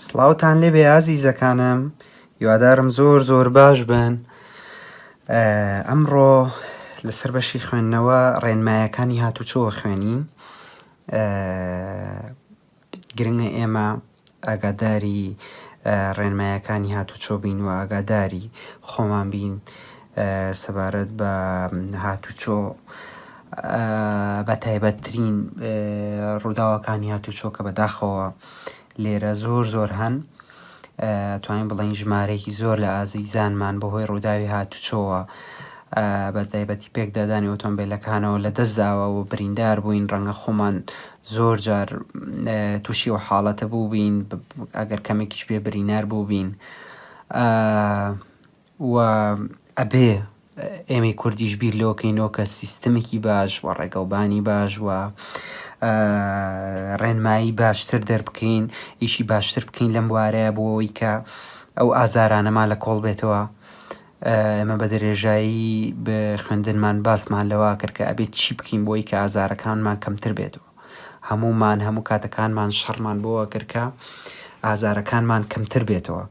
سڵاوتان لێ بێ ئازیزەکانم یوادارم زۆر زۆر باش بن ئەمڕۆ لەسەر بەشی خوێندنەوە ڕێنمایەکانی هاتوچۆوە خوێنین گرنگە ئێمە ئاگاداری ڕێنمایەکانی هاتوچۆ بین و ئاگاداری خۆمان بین سەبارەت بە هاتوچۆ بە تایبەتترین ڕووداوەکانی هاتوچۆ کە بەداخەوە لێرە زۆر زۆر هەن. توانین بڵێین ژمارەیەکی زۆر لە ئازیزانمان بەهۆی ڕووداوی هاتوچۆوە بە تایبەتی پێکدادانی ئۆتۆمبیلەکانەوە لە دەستداوە و بریندار بووین ڕەنگە خۆمان زۆر جار تووشی و حاڵەتە بوو بین ئەگەر کەمێکیش بێ برینار بوو بین و ئەبێ ئێمەی کوردیش بیر لەوە کەینەوە کە سیستمێکی باش و ڕێگەوبانی باش و ڕێنمایی باشتر دەربکەین ئیشی باشتر بکەین لەم بوارەیە بۆ ئەوەی کە ئەو ئازارانەمان لە کۆڵ بێتەوە ئێمە بە درێژایی خوێندنمان باسمان لەوە کرد کە ئەبێت چی بکەین بۆی کە ئازارەکانمان کەمتر بێتەوە هەموومان هەموو کاتەکانمان شەڕمان بۆوە کرد کە ئازارەکانمان کەمتر بێتەوە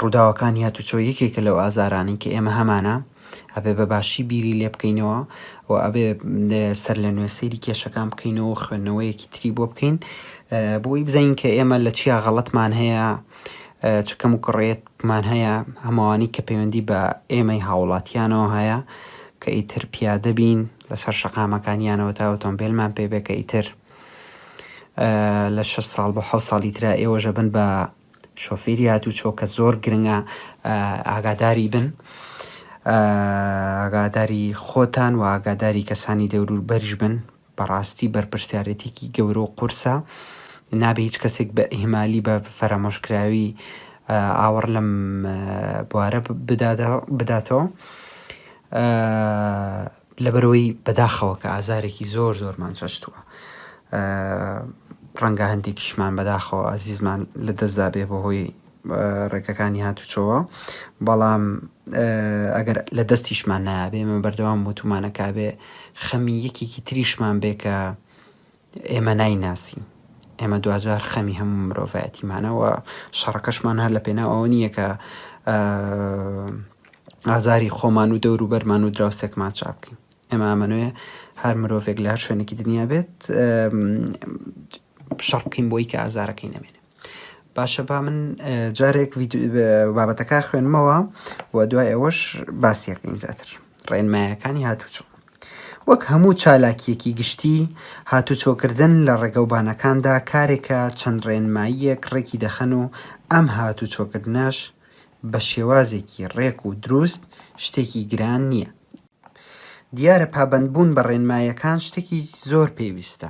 ڕووداوەکانی هاتوچۆ یەکێکە لەو ئازارانی کە ئێمە هەمانە ئەبێ بە باشی بیری لێ بکەینەوە و ئەبێ سەر لە نوێ سەیری کێشەکان بکەینەوە خوێندنەوەیەکی تری بۆ بکەین بۆی بزین کە ئێمە لە چیا غەڵەتمان هەیە چکەم و کڕێتمان هەیە هەمووانی کە پەیوەندی بە ئێمەی هاوڵاتیانەوە هەیە کە ئیتر پیادە بین لەسەر شەقامەکانیانەوە تا ئۆتۆمبێلمان پێ بێ کە ئیتر لە شەست ساڵ بۆ حەوت ساڵی ترا ئێوەژە بن بە شۆفێری هاتوو چۆ کە زۆر گرنگە ئاگاداری بن ئاگاداری خۆتان و ئاگاداری کەسانی دەورور بەریش بن بەڕاستی بەرپرسیارەتێکی گەورە و قورسە نابێ هیچ کەسێک بە ئیمالی بە فەرەمۆشکراوی ئاوەڕ لەم بوارە بداتەوە لەبەرئەوەی بەداخەوە کە ئازارێکی زۆر زۆرمان چەشتووە ڕەنگە هەندێکیشمان بەداخەوە ئازیزمان لە دەستدا بێ بەهۆی ڕێکەکانی هاتوچۆوە بەڵام ئەگەر لە دەستیشمان نابێ من بەردەوام وتومانەکە بێ خەمی یەکێکی تریشمان بێ کە ئێمە نایناسین. ئێمە دواجار خەمی هەموو مرۆڤایەتیمانە و شەڕەکەشمان هەر لە پێناو ئەوە نییە کە ئازاری خۆمان و دەور و بەرمان و دراوسێکمان چاپ بکەین ئێمە ئەمەنوێ هەر مرۆڤێک لە هەر شوێنێکی دنیا بێت شەڕ بکەین بۆی کە ئازارەکەی نەمێنێ باشە با من جارێک بابەتەکە خوێنمەوە و دوای ئەوەش باسیەکەین زیاتر ڕێنمایەکانی هاتوچۆ وەک هەموو چالاکیەکی گشتی هاتوچۆکردن لە ڕێگەوبانەکاندا کارێکە چەند ڕێنماییەک ڕێکی دەخەن و ئەم هاتوچۆکردنەش بە شێوازێکی ڕێک و دروست شتێکی گران نییە دیارە پابەندبوون بە ڕێنمایەکان شتێکی زۆر پێویستە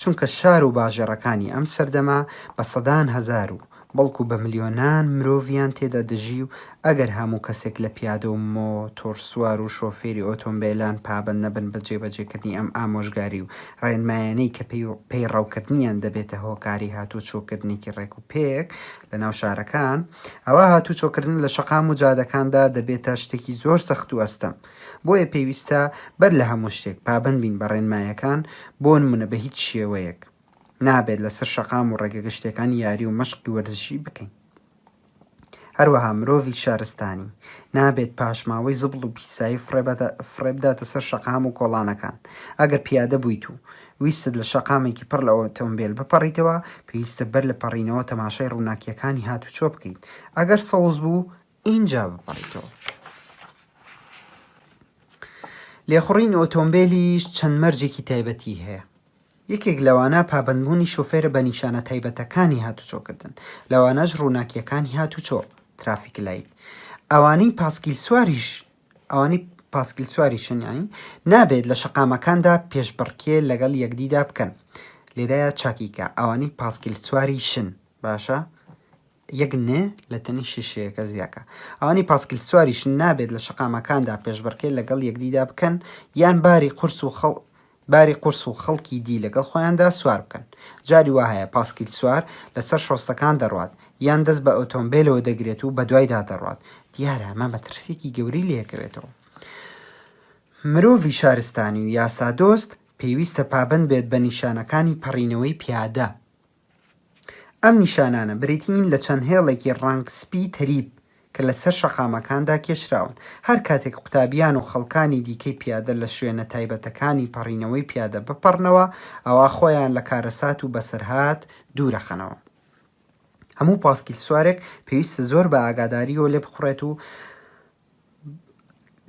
چونکە شار و باژێڕەکانی ئەم سەردەمە بە سەدان هەزار و بەڵکو بە ملیۆنان مرۆڤیان تێدا دەژی و ئەگەر هەموو کەسێک لە پیادە و مۆتۆرسوار و شۆفێری ئۆتۆمبێلان پابەند نەبن بە جێبەجێکردنی ئەم ئامۆژگاری و ڕێنمایانەی کە پەیڕەوکردنیان دەبێتە هۆکاری هاتووچۆکردنێکی ڕێکوپێک لە ناو شارەکان ئەوا هاتووچۆکردن لە شەقام و جادەکاندا دەبێتە شتێکی زۆر سەخت و ئەستەم بۆیە پێویستە بەر لە هەموو شتێک پابەند بین بە ڕێنمایەکان، بۆنمونە بە هیچ شێوەیەک نابێت لەسەر شەقام و ڕێگە گشتیەکان یاری و مەشقی وەرزشی بکەین. هەروەها مرۆڤی شارستانی نابێت پاشماوەی زبڵ و پیسایی فڕێبداتە سەر شەقام و کۆڵانەکان، ئەگەر پیادە بوویت و ویستت لە شەقامێکی پڕ لە ئۆتۆمبێل بپەڕیتەوە، پێویستە بەر لە پەڕینەوە تەماشای ڕووناکیەکانی هاتوچۆ بکەیت، ئەگەر سەوز بوو ئینجا بپەڕیتەوە. لێخوڕینی ئۆتۆمبێلیش چەند مەرجێکی تایبەتی هەیە. یەکێک لەوانە پابەندبوونی شۆفێرە بە نیشانە تایبەتەکانی هاتوچۆکردن، لەوانەش ڕووناکیەکانی هاتوچۆ، ترافیک لایت. ئەوانەی پاسکیل سواریش ئەوانەی پاسکیل سواری شنیانی نابێت لە شەقامەکاندا پێشبڕکێ لەگەڵ یەکدیدا بکەن لێرەیە چاکیکە ئەوانەی پاسکیل سواری شن باشە یەک ن لە تەنی شیشەیەکە زیاکە. ئەوانەی پاسکیل سواریشن نابێت لە شەقامەکاندا پێشبڕکێ لەگەڵ یەکدیدا بکەن یان باری قورس و خەڵ باری قورس و خەڵکی دی لەگەڵ خۆیاندا سوار بکەن. جاری وا هەیە پاسکیل سوار لە سەر شۆستەکان دەڕوات یان دەست بە ئۆتۆمبێلەوە دەگرێت و بەدوایدا دەڕوات. دیارە ئەمە مەترسییەکی گەورەی لێکەوێتەوە. مرۆڤی شارستانی و یاسادۆست پێویستە پابەند بێت بە نیشانەکانی پەڕینەوەی پیادە ئەم نیشانانە بریتیین لە چەند هێڵێکی ڕەنگ سپی تەریب کە لەسەر شەقامەکاندا کێشراون. هەر کاتێک قوتابیان و خەڵکانی دیکەی پیادە لە شوێنە تایبەتەکانی پەڕینەوەی پیادە بپەڕنەوە، ئەوا خۆیان لە کارەسات و بەسەرهات دوورەخەنەوە. هەموو پاسکیلسوارێک پێویستە زۆر بە ئاگادارییەوە لێبخوڕێت و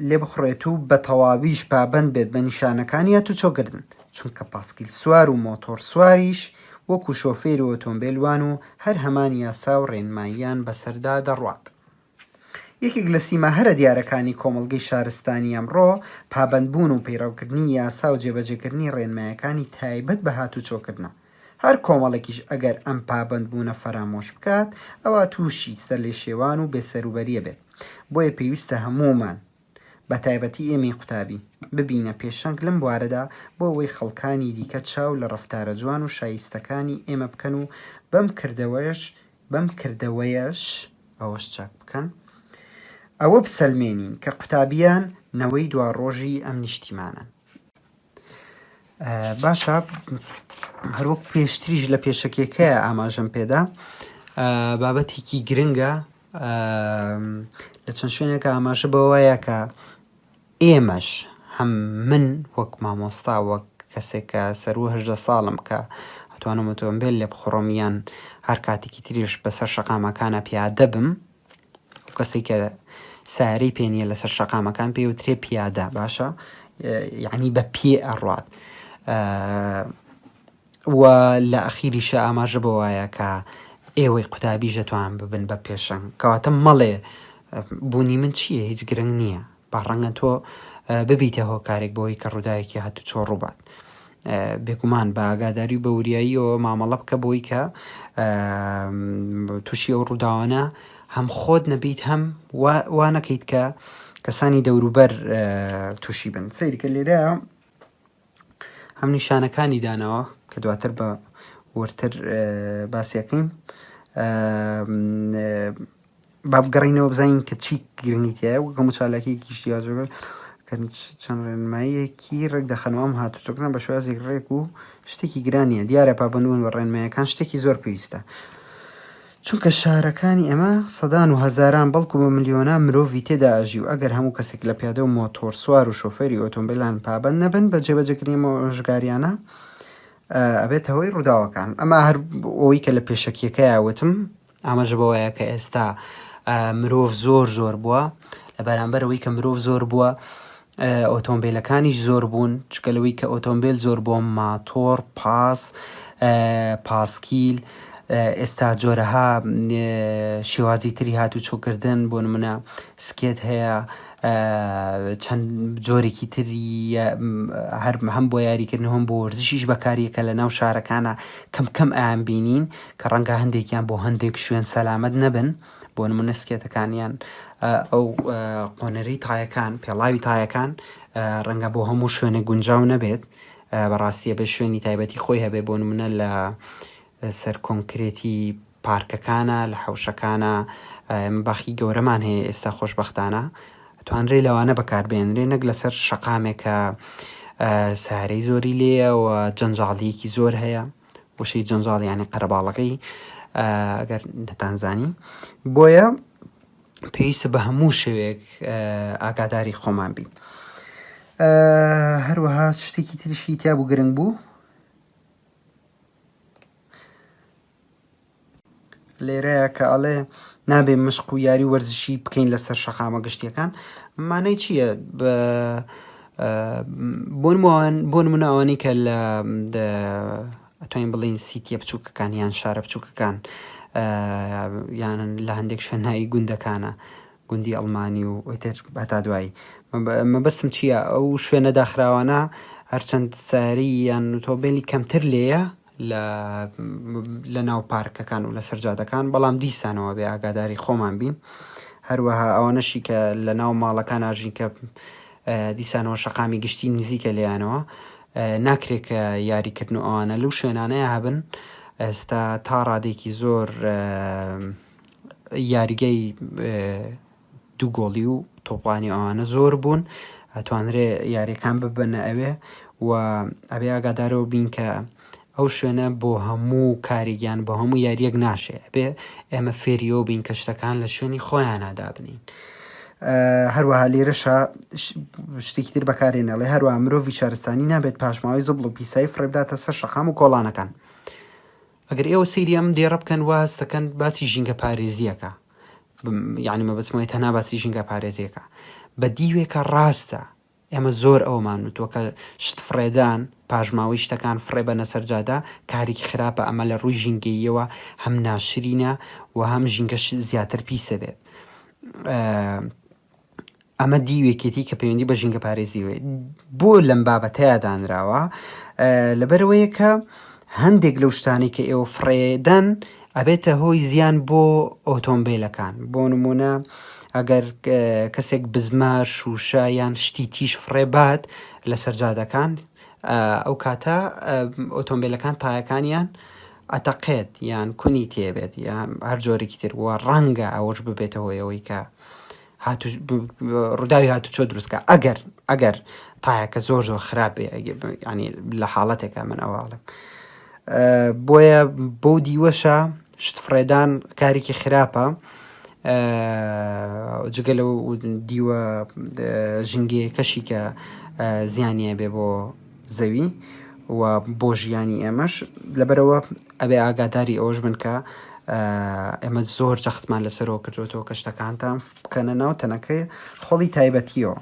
لێبخوڕێت و بە تەواویش پابەند بێت بە نیشانەکانی ئەتوچۆکردن، چونکە پاسکیلسوار و مۆتۆڕسواریش وەکو شۆفێری ئۆتۆمبێل وان و هەر هەمان یاسا و ڕێنماییان بەسەردا دەڕوات. یەکێک لە سیما هەرە دیارەکانی کۆمەڵگەی شارستانی ئەمڕۆ، پابەندبوون و پەیڕەوکردنی یاسا و جێبەجێکردنی ڕێنمایەکانی تایبەت بە هاتوچۆکردنە. هەر کۆمەڵێکیش ئەگەر ئەم پابەندبوونە فەرامۆش بکات، ئەوا تووشی سەرلێشێوان و بێسەروبەرییە بێت. بۆیە پێویستە هەموومان، بە تایبەتی ئێمەی قوتابی، ببینە پێشەنگ لەم بوارەدا بۆ ئەوەی خەڵکانی دیکە چاو لە ڕەفتارە جوان و شایستەکانی ئێمە بکەن و بەم کردەوەیەش بەم کردەوەیەش ئەوەش چاک بکەن ئەوە بسەلمێنین کە قوتابییان نەوەی دواڕۆژی ئەم نیشتیمانەن. باشە هەروەک پێشتریش لە پێشەکێکە ئاماژەم پێدا بابەتێکی گرنگە لە چەند شوێنێکە ئاماژە بەوەیە کە ئێمەش هەم من وەک مامۆستا وەک کەسێکە سەرو هەژدە ساڵم کە ئەتوانم ئۆتۆمبیل لێ بخڕۆمیان هەر کاتێکی تریش بەسەر شەقامەکانە پیادە بم ئەو کەسەی کە سارەی پێ نیە لەسەر شەقامەکان پێ وترێ پیادە باشە یعنی بە پێ ئەڕات و لە ئەخیریشە ئاماژە بە وایە کە ئێوەی قوتابی ژەتوان ببن بە پێشەنگ کەواتە مەڵێ بوونی من چییە هیچ گرنگ نییە با ڕەنگە تۆ ببیتە هۆکارێک بۆی کە ڕووداوێکی هاتوچۆ ڕووبات. بێگومان بە ئاگاداری و بە وریاییەوە مامەڵە بکە بۆی کە تووشی ئەو ڕووداوانە هەم خۆت نەبیت هەم وا نەکەیت کە کەسانی دەوروبەر تووشی بن سەیرکە لێرە هەم نیشانەکانی دانەوە کە دواتر بە وردتر باسیەکەین با بگەڕینەوە بزانین کە چی گرنگیتیایە وەکە مچالەکەیەکی شتیاجۆگە چەند ڕێنماییەکی ڕێک دەخەنەوە ئەم هاتوچۆکنە بە شوازێک ڕێک و شتێکی گرانیە دیارە پابندبوون بە ڕێنمایەکان شتێکی زۆر پێویستە چونکە شارەکانی ئێمە سەدان و هەزاران بەڵکو بە ملیۆنان مرۆڤی تێدا ئەژی و ئەگەر هەموو کەسێک لە پیادە و مۆتۆرسوار و شۆفێری ئۆتۆمبیلان پابەند نەبن بە جێبەجێکردنی ئەم ئامۆژگارییانە ئەبێتە هۆی ڕووداوەکان ئەمە هەر ئەوەی کە لە پێشەکیەکەیا وتم ئاماژە بەوەیە کە ئێستا مرۆڤ زۆر زۆر بووە لە بەرامبەرەوەی کە مرۆڤ زۆر بووە ئۆتۆمبیلەکانیش زۆر بوون چکە لەوەی کە ئۆتۆمبیل زۆر بۆ ماتۆڕ پاس پاسکیل ئێستا جۆرەها شێوازی تری هات و چۆکردن بۆ منە سکێت هەیە چەند جۆرێکی تری هەرم هەم بۆ یاریکردن هەم بۆ وەرزشیش بەکاریەکە لە ناو شارەکانە کەم کەم ئەیان بینین کە ڕەنگە هەندێکیان بۆ هەندێک شوێن سەلامەت نەبن. بۆ نمونە سکێتەکانیان ئەو قۆنەری تایەکان پێڵاوی تایەکان ڕەنگە بۆ هەموو شوێنە گونجاو نەبێت بەڕاستیە بە شوێنی تایبەتی خۆی هەبێ بۆ نمونە لە سەر کۆنکرێتی پارکەکانە لە حوشەکانە باخی گەورەمان هەیە ئێستا خۆشببختانە توانرێ لەوانە بەکاربێنرێ نەک لەسەر شقامێکە سارەی زۆری لێە و جەنجاڵیەکی زۆر هەیە وشەی جەنجاڵ یعنی قەرەباڵەکەی ئەگەر نەتانزانی بۆیە پێویستە بە هەموو شوێک ئاگاداری خۆمان بین هەروەها شتێکی تریشی تیا بوو گرنگ بوو لێرەیە کە ئەڵێ نابێ مشق و یاری وەرزشی بکەین لەسەر شەقامە گشتیەکان مانای چییە بۆن وان بۆن منە ئەوانی کە لە ئەتوین بڵین سیتیە بچووکەکان یان شارە بچووکەکان یان لە هەندێک شوێنایی گوندەکانە گوندی ئەڵمانی و ئۆتر بەتا دوایی مەبەسم چییە ئەو شوێنە داخراوانە هەرچەند ساری یان تۆبێلی کەمتر لێە لە ناو پارکەکان و لەسەر جادەکان، بەڵام دیسانەوە بێ ئاگاداری خۆمان بین، هەروەها ئەوانەشی کە لە ناو ماڵەکان ئاژین کە دیسانەوە شەقامی گشتی نزیکە لێیانەوە، ناکرێ کە یاریکردن و ئەوانە لەو شوێنانەیە هەبن، ئێستا تا ڕادێکی زۆر یاریگای. دوو گۆڵی و تۆپڵانی ئەوانە زۆر بوون ئەتوانرێ یاریەکان ببەنە ئەوێ و ئەبێ ئاگادارەوە بین کە ئەو شوێنە بۆ هەموو کارێکیان بۆ هەموو یاریەک ناشێ بێ ئێمە فێریەوە بین کە شتەکان لە شوێنی خۆیاننادا بنین هەروەها لێرەشا شتێکی تر بەکارێنەڵێ هەروە مرۆڤی شارستانی نابێت پاشماوەی زبڵ و پیسایی فڕێبداتە سەر شەقام و کۆڵانەکان ئەگەر ئێوە سەیری ئەم دێڕە بکەن وا هەستەکەن باسی ژینگە پارێزیەکە یعنی مەبەسمەوەی تەنا باسی ژینگە پارێزیەکە بە دیوێکە ڕاستە ئێمە زۆر ئەومان وتوە کە شت فڕێدان پاشماوەی شتەکان فڕێ بە نەسەرجادە کارێکی خراپە ئەمە لە ڕووی ژینگەیەوە هەم ناشرینە و هەم ژینگەش زیاتر پیسە بێت ئەمە دیوێکێتی کە پەیوەندی بە ژینگە پارێزیەوەی بۆ لەم بابەتەیە دانراوە لەبەرەوەیە کە هەندێک لەو شتانی کە ئێوە فڕێدەن ئەبێتە هۆی زیان بۆ ئۆتۆمبیلەکان بۆ نمونە ئەگەر کەسێک بزمە شوشە یان شتی تیش فڕێ بات لە سەرجادەکان ئەو کاتە ئۆتۆمبیلەکان تایەکانیان ئەتەقێت یان کونی تێبێت یان هەر جۆرەی تر وە ڕەنگە ئەوەش ببێتەوەیەوەی کە ڕووداوی هاتوچۆ دروستکە ئەگەر ئەگەر تایەکە زۆر زۆر خراپێ ینی لە حاڵەتێکە من ئەوواڵم بۆیە بۆ دیوەشە شت فڕێدان کارێکی خراپە جگە لە دیوە ژنگەیەکەشی کە زیانە بێ بۆ زەوی و بۆ ژیانی ئێمەش لەبەرەوە ئەبێ ئاگاداری ئەوەش بن کە ئێمە زۆر جەختمان لەسەرەوە کردوەوە کە شتەکانتان بکەنە ناو تەنەکەی خۆڵی تایبەتیەوە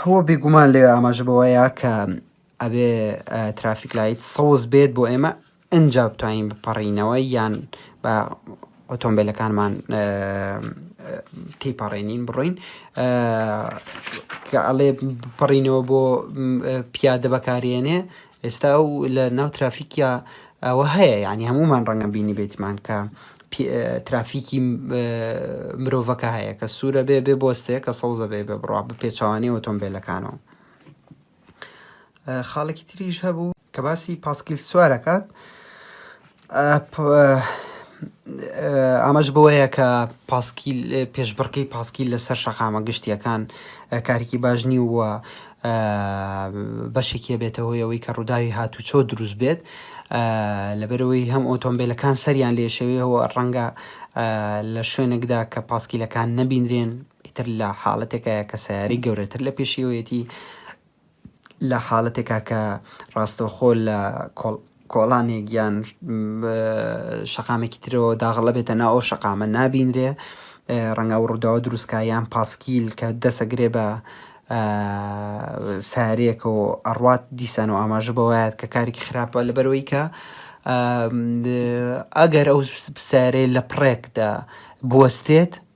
هو بێگومان لێ ئاماژە بەوەیە کە ئەبێ ترافیک لایت سەوز بێت بۆ ئێمە ئینجا بتوانین بپەڕینەوە یان بە ئۆتۆمبیلەکانمان تیپەڕێنین بڕۆین کە ئەڵێ پەڕینەوە بۆ پیادە بەکارێنێ ئێستا و لە ناو ترافیکیا ئەوە هەیە ینی هەمومان ڕەنگە بینی بێتمان کە ترافیکی مرۆڤەکە هەیە کە سوورە بێ بێ بۆستێ کە سەوزە بێ بێ بڕوا بە پێچوانەی ئۆتۆمبیلەکانەوە خاڵێکی تریش هەبوو کە باسی پاسکیل سوارەکات ئامەش بۆیە کە پاسکیل پێشبڕکەی پاسکیل لەسەر شەقامە گشتیەکان کارێکی باش نی وە بەشێکیە بێتەوەیەوەی کە ڕووداوی هاتوچۆ دروست بێت لەبەرەوەی هەم ئۆتۆمبیلەکان سەریان لێشەوەیەوە ڕەنگە لە شوێنێکدا کە پاسکیلەکان نەبینرێن ئیتر لە حاڵەتێکە کە سیاری گەورەتر لە پێشیەوەیەتی لە حاڵەتێکا کە ڕاستەوخۆ لە کۆڵانێک یان شەقامێکی ترەوە داغڵە بێتە ناو ئەو شەقامە نابینرێ ڕەنگە و ڕووداوە دروستکە یان پاسکیل کە دەسەگرێ بە سارێکە و ئەڕات دیسان و ئاماژە بەوەیات کە کارێکی خراپە لە بەرەوەی کە ئەگەر ئەو سارێ لە پڕێکدا بوەستێت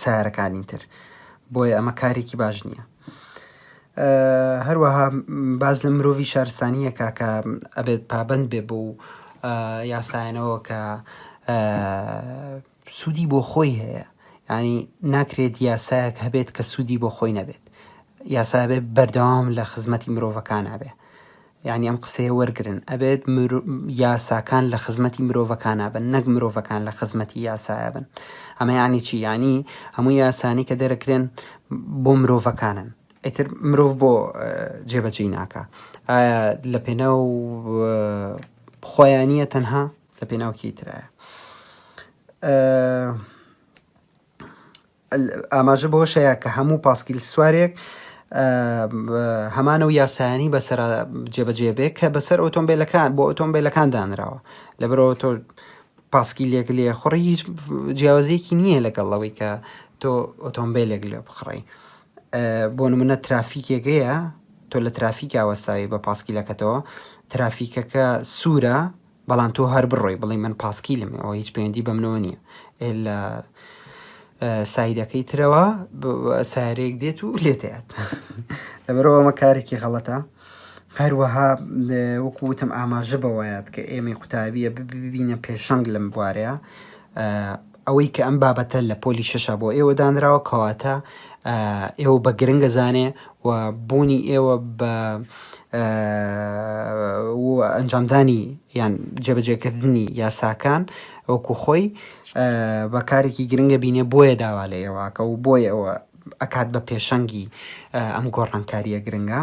سیارەکانی تر بۆیە ئەمە کارێکی باش نییە. هەروەها باز لە مرۆڤ شارستانیەکە کە ئەبێت پابند بێ بۆ یاسایەنەوە کە سوودی بۆ خۆی هەیە ینی ناکرێت یاسایەک هەبێت کە سوودی بۆ خۆی نەبێت یاسابێ بەردەوام لە خزمەتی مرۆڤەکان هەبێ یانی ئەم قسەیە وەرگرن ئەبێت مرۆ یاساکان لە خزمەتی مرۆڤەکانا بن نەک مرۆڤەکان لە خزمەتی یاسایە بن ئەمە یانی چی یانی هەموو یاسانی کە دەرەکرێن بۆ مرۆڤەکانن ئیتر مرۆڤ بۆ جێبەجێی ناکە ئایا لە پێناو خۆیانە تەنها لە پێناوکی ترایە ئاماژە بەوەشەیە کە هەموو پاسکیل سوارێک هەمانە و یاسایانی بەسەر جێبەجێ بێ کە بەسەر ئۆتۆمبیلەکان بۆ ئۆتۆمبیلەکان دانراوە لە برەوە تۆ پاسکیلێک لێ خوڕی هیچ جیاوازێکی نییە لەگەڵ ئەوەی کە تۆ ئۆتۆمبیلێک لێ بخڕی بۆ نمونە ترافیکێکەیە تۆ لە ترافیکا وەستاوی بە پاسکیلەکەتەوە ترافیکەکە سوورە بەڵام تۆ هەر بڕۆی بڵی من پاسکیلم ئەوە هیچ پەیوەندی بەمنەوە نییە ئێ لە سایدەکەی ترەوە سارێک دێت و لێتێت لەبەرەوە ئەمە کارێکی غەڵەتە هەروەها وەکوتم ئاماژە بەوەیات کە ئێمەی قوتابیە ببینە پێشەنگ لەم بوارەیە ئەوەی کە ئەم بابەتە لە پۆلی شەشا بۆ ئێوە دانراوە کەواتە ئێوە بە گرنگە زانێ و بوونی ئێوە بە ئەنجامدانی یان جێبەجێکردنی یاساکان ئەوکو خۆی بە کارێکی گرنگە بینێ بۆیە داوا لە ئێواکە و بۆیە ئەوە ئەکات بە پێشەنگی ئەم گۆڕانکاریە گرنگە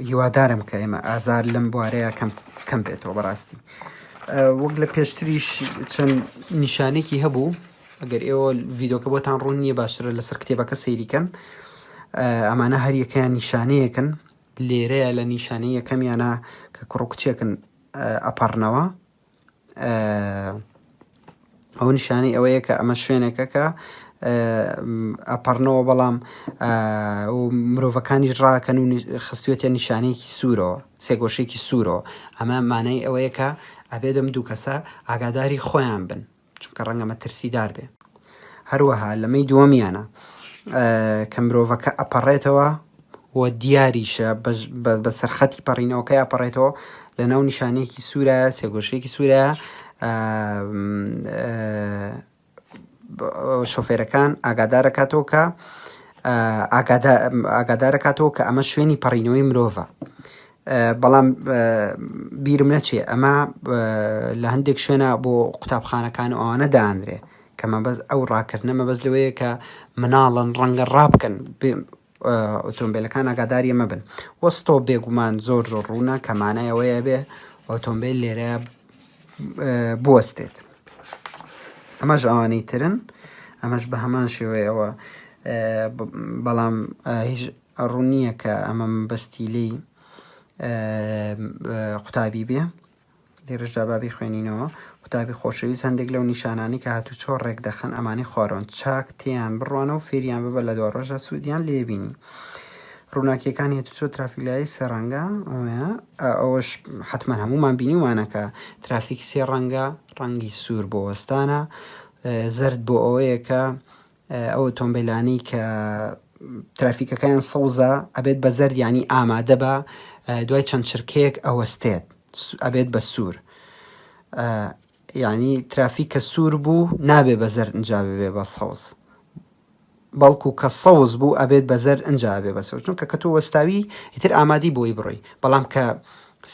هیوادارم کە ئێمە ئازار لەم بوارەیە کەم بێتەوە بەڕاستی وەک لە پێشتریش چەند نیشانێکی هەبوو ئەگەر ئێوە ڤیدۆکە بۆتان ڕوون نییە باشترە لەسەر کتێبەکە سەیریکەن ئەمانە هەریەکەیان نیشانەیەکن لێرەیە لە نیشانەیە کەمیانە کە کوڕکچێکن ئەپەڕنەوە ئەو نیشانەی ئەوەیە کە ئەمە شوێنێکە کە ئەپەڕنەوە بەڵام مرۆڤەکانیش ڕاکەن و خستوێتە نیشانەیەکی سوورەوە سێگۆشێکی سوورەوە ئەمە مانای ئەوەیە کە ئەبێ دەم دوو کەسە ئاگاداری خۆیان بن چونکە ڕەنگە مەترسیدار بێ. هەروەها لە مەی دووەمیانە کە مرۆڤەکە ئەپەڕێتەوە و دیاریشە بە سەرخەتی پەڕینەوەکە ئەپەڕێتەوە لە ناو نیشانەیەکی سوورە سێگۆشەیەکی سوورە شۆفێرەکان ئاگادارەکاتەوە کە ئاگادارەکاتەوە کە ئەمە شوێنی پەڕینەوەی مرۆڤە بەڵام بیرم نەچێ ئەمە لە هەندێک شوێنە بۆ قوتابخانەکان و ئەوانە دانرێ کە مەبەست ئەو ڕاکردنە مەبەست لەوەیە کە مناڵن ڕەنگە ڕابکەن ئۆتۆمبیلەکان ئاگاداریە مەبن وەستۆ بێگومان زۆر زۆر ڕوونە کەمانایەوەیە بێ ئۆتۆمبیل لێرە بوەستێت ئەمەش ئەوانەی ترن ئەمەش بە هەمان شێوەیەوە بەڵام هیچ ئە ڕوون نیە کە ئە مە مە بەستی لێی ئە قوتابی بێ لێرەش دا با بیخوێنینەوە قوتابی خۆشەویست هەندێک لەو نیشانانەی کە هاتوو چۆ ڕێک دەخەن ئەمانی خوارۆن چاک تێیان بڕوانەوە فێریان ببە لە دوا ڕۆژدا سوودیان لێبینی ڕووناکیەکان هێت چۆ ترافیلایی سێ ڕەنگە ئەوەش حتمما هەمومان بینیومانەکە ترافیک سێ ڕەنگە ڕەنگی سوور بۆ وەستانە زرد بۆ ئەوەیە کە ئەو ئۆتۆمبیلانەی کە ترافیکەکەیان سەوزە ئەبێت بە زەرد یعنی ئامادە بە دوای چەند چرکەیەک ئەوەستێت ئەبێت بە سوور یعنی ترافیک کە سوور بوو نابێ بە زەر ئەجا بێ بە سەوز بەڵکو کە سەوز بوو ئەبێت بە زەر ئەجا بێ بە سەوز چونکە کە تۆ وەستاوی ئیتر ئامادی بۆی بڕۆی بەڵام کە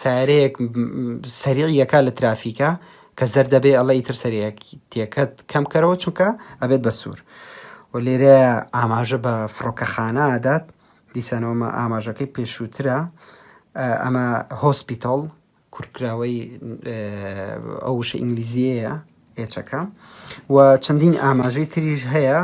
سەیارەیەک سەریع یەکا لە ترافیکا کە زەر دەبێ ئەڵە ئیتر سەریەکیتەکەت کەم بکەرەوە چونکە ئەبێت بە سوور و لێرە ئاماژە بە فڕۆکەخانە ئادات دیسانەوەمە ئاماژەکەی پێشووترە ئەمە هۆسپیتال کورتکراوەی ئەو وشە ئینگلیزیەیە هێچەکە و چەندین ئاماژەی تریش هەیە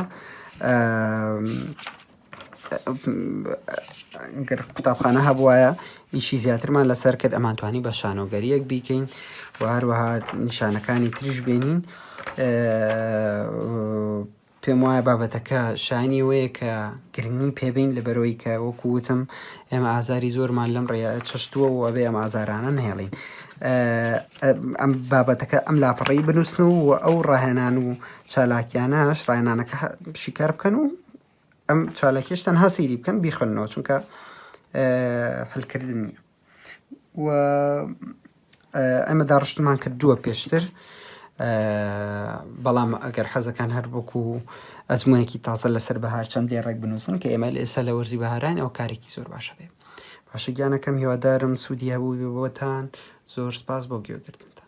گەر قوتابخانە هەبوایە ئیشی زیاترمان لەسەر کرد ئەمانتوانی بە شانۆگەریەک بیکەین و هەروەها نیشانەکانی تریش بینین پێم وایە بابەتەکە شانی وەیە کە گرنگی پێبین لە بەرەوەی کە وەکو وتم ئێمە ئازاری زۆرمان لەم ڕێ چشتووە و ئەبێ ئەم ئازارانە نهێڵین ئەم بابەتەکە ئەم لاپەڕی بنووسن و ئەو ڕاهێنان و چالاکیانەش ڕایانانەکە شیکار بکەن و ئەم چالاکیش تەنها سەیری بکەن بیخنەوە چونکە هەلکردن نییە و ئەمە داڕشتمان کردووە پێشتر بەڵام ئەگەر حەزەکان هەر بکو و ئەزمونێکی تازە لەسەر بەهار چەند دێڕێک بنووسن کە ئێمە لە ئێستا لە وەرزی بەهاران ئەو کارێکی زۆر باشە بێ باشە گیانەکەم هیوادارم سوودی هەبوو بۆتان زۆر سپاس بۆ گوێگرتن